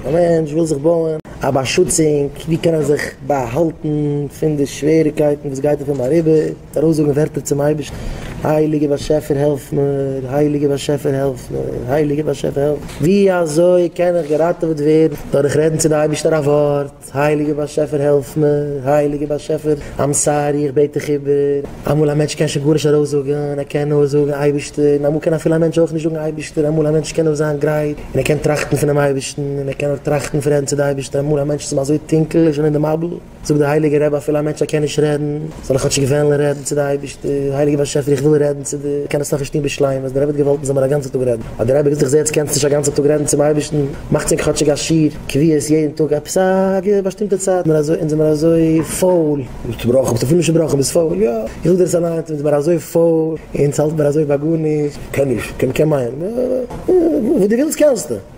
א מענטש וויל זיך בויען א באשוצונג, ווי קען ער זיך באהאלטן פון די שוועריקייטן וואס גייט אויף אים אריבער, מיט ארויסזאגן ווערטער צום אייבערשטן, הייליגער באשעפער העלף מיר, הייליגער באשעפער העלף מיר, הייליגער באשעפער העלף מיר, ווי אזוי קען איך געראטעוועט ווערן, דורך רעדן צו די אייבערשטער א ווארט. הייליגער באשעפער העלף מיר, הייליגער באשעפער איים סארי איך בעט דיך איבער, אמאל א מענטש קען שוין גארנישט ארויס זאגען ער קען נאר זאגען אייבערשטער, און אמאל קען אפילו א מענטש אויך נישט זאגען אייבערשטער, אמאל א מענטש קען נאר זיין גרייט און ער קען טראכטען פונעם אייבערשטען, און ער קען נאר טראכטען פון רעדען צו די אייבערשטער, אמאל א מענטש איז אים אזוי טונקעל און שוין אין די מבול, זאגט דער הייליגער רבי אפילו א מענטש ער קען נישט רעדען, זאל איך כאטשיג וועלן רעדן צו די אייבישטער, הייליגער באשעפער איך וויל רעדן צו דיר, קען עס נאך נישט טון בשלימות, דער רבי האט געוואלט מען זאל מיר א גאנצע טאג רעדן, האט דער רבי געזאגט איך זע יעצט קענסט נישט א גאנצע טאג רעדן צום אייבישטן, מאך צו ענק כאטשיג א שיעור קביעות יעדן טאג עפעס א באשטימטע צייט, מיר אזוי אונז זעמיר אזוי פויל, זאגסט ברכות האסט אפילו נישט געבראכן ביסט פויל, יא איך זאג דיר עס אליינס אונז זעמיר אזוי פויל, אונז האלט מיר אזוי ביי גארנישט, קען נישט, קען נישט, קען מיין, וואס דו ווילסט קענסטו.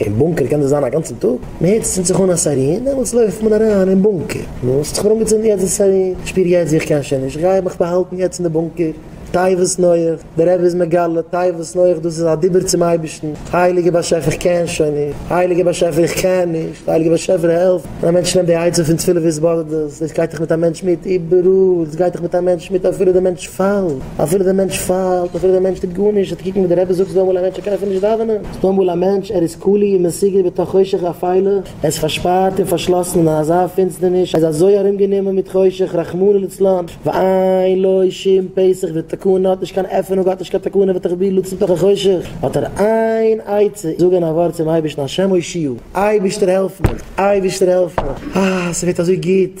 אין בונקער קען דאס זיין א גאנצן טאג, מען הערט עס צינד זיך אן א סיירין, דעמאלטס לויפט מען אריין אין בונקער, נו האסט זיך אנגעצינדן יעצט די סיירין, איך שפיר יעצט ווי איך קען שוין נישט, איך גיי מיך באהאלטן יעצט אין די בונקער, תיבות נוח, דער רבי איז מגלה, תיבות נוח דאס איז א דיבור צום אייבערשטן, הייליגער באשעפער איך קען שוין נישט, הייליגער באשעפער איך קען נישט, הייליגער באשעפער העלף, ווען א מענטש נעמט די עצה פון תפילה והתבודדות, דאס גייט דאך מיט א מענטש מיט איבעראל, דאס גייט דאך מיט א מענטש מיט אפילו דער מענטש פאלט, אפילו דער מענטש פאלט, אפילו דער מענטש טוט גארנישט, אט קוק ווי דער רבי זאגט זאל אמאל א מענטש ער קען אפילו נישט דאווענען. טאמאל א מענטש, ער איז כלוא און מסוגר בתוך חושך אפלה, ער איז פארשפארט און פארשלאסן אין אזא פינסטערניש, ער איז אזוי ארומגענומען מיט חושך, רחמנא לצלן, ואין לו שום פסח ותקנה, ער האט נישט קיין עפענונג, ער האט נישט קיין תקנה ותחביר לצאת מתוך החושך, האט ער איין עצה, זאגען א ווארט צום אייבערשטן השם הושיעו, אייבערשטער העלף מיר, אייבערשטער העלף מיר, אה ס'ווערט אזוי גוט.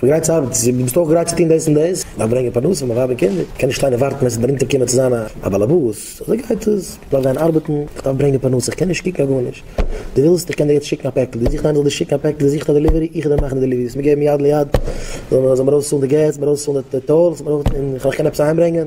דו גרייט צו ארבעטן, צו ביסט אויך גרייט צו טון דאס און דאס, דארף ברענגען פרנסה פאר ווייב און קינדער, איך קען נישט שטיין און ווארטן ווען עס וועט אונטער קומען צו זיין א באלעבאס, אזוי גייט עס, איך דארף גיין ארבעטן, איך דארף ברענגען פרנסה, איך קען נישט קוקן אויף גארנישט, דו ווילסט איך קען דיר יעצט שיקן א פעקל, דו זוכסט איינער זאל דיר שיקן א פעקל, דו זוכסט א דעליווערי, איך וועל דיר מאכן די דעליווערי, עס מיר געבן יד ליד, זאל מיר ארויס צאלן די געז, מיר ארויס צאלן די טאלס, און איך זאל דיך קענען עפעס אהיים ברענגען.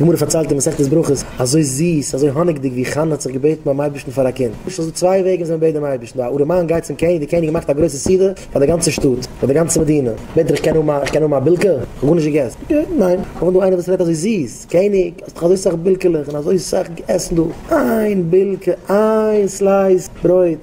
גמרא פארציילט אין מסכת ברכות אזוי זיס, אזוי האניגדיג, ווי חנה האט זיך געבעטן ביים אייבערשטן פאר א קינד. ס'איז דא צוויי וועגן ווי מען בעט דעם אייבערשטן, די ארעמאן גייט צום קעניג, די קעניג מאכט א גרויסע סעודה פאר די גאנצע שטאט, פאר די גאנצע מדינה, בעט ער איך קען האבן איך קען האבן א בילקע? איך האב גארנישט געגעסן. געט אים, ניין. קומט דא איינער וואס רעדט אזוי זיס, קעניג האסט דאך אזוי סאך בילקעלעך און אזוי סאך עסן דא, איין בילקע, איין סלייס ברויט.